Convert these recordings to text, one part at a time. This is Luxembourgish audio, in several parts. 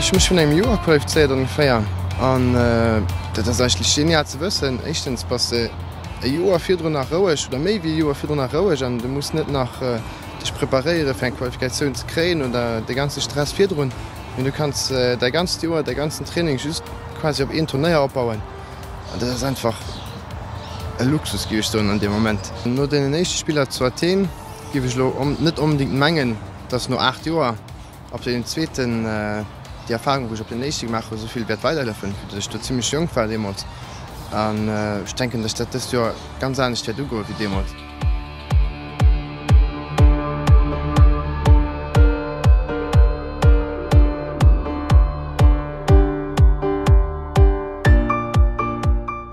Ech hu mech vun engem Joer qualifizéiert ongeféier an dat ass eigentlech genial ze wëssen. Éischtens bass de e Joer virdrun nach roueg oder méi wéi e Joer virdrun nach roueg an du muss net nach dech preparéiere fir eng Qualifikatioun ze kréien oder dee ganze Stress virdrun, mee du kanns däi ganzt Joer, däi ganzen Training just quasi op een Turnéier opbauen. An dat ass einfach e Luxus, giff ech soen an deem Moment. No deenen éischte Spiller zu Athen giff ech elo net onbedingt mengen, dass no 8 Joer op deenen zweeten déi Erfahrung wou ech op deenen éischte gemaach hu souvill wäert weiderleffen, vu dass ech do zimlech jonk war deemools. An ech denken, dass dat dëst Joer ganz anescht wäert ugoe wéi deemools.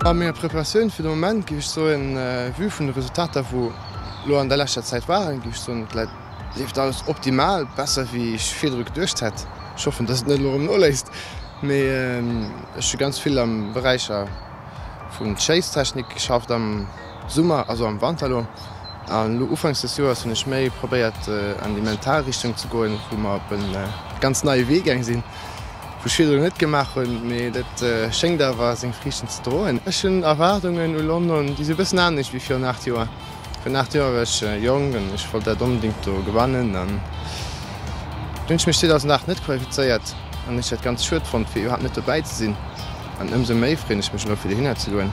A menger Preparatioun fir de Moment, géif ech soen, vue vun de Resultater wou elo an der leschter Zäit waren, géif ech soen, et leeft alles optimal, besser wéi ech virdru geduecht hätt. Ech hoffen, dass et net elo erëm noléisst, mee ech hu ganz vill am Beräich vun Schéisstechnik geschafft. Summer, also am Wanter elo. An elo ufanks des Joers hunn ech méi probéiert an déi mental Richtung ze goen, wou mer op e ganz neie Wee gaang sinn, wou ech virdrun net gemaach hunn, mee dat schéngt awer seng Friichten ze droen. Ech hunn Erwaardungen u London, déi si e bëssen anescht wéi virun 8 Joer. Virun 8 Joer war ech jonk an ech wollt dat onbedéngt do gewannen. Dann hunn ech mech 2008 net qualifizéiert an ech dat ganz schued fonnt, fir iwwerhaapt net dobäi ze sinn. An ëmsou méi freeën ech mech elo, fir dohinner ze goen.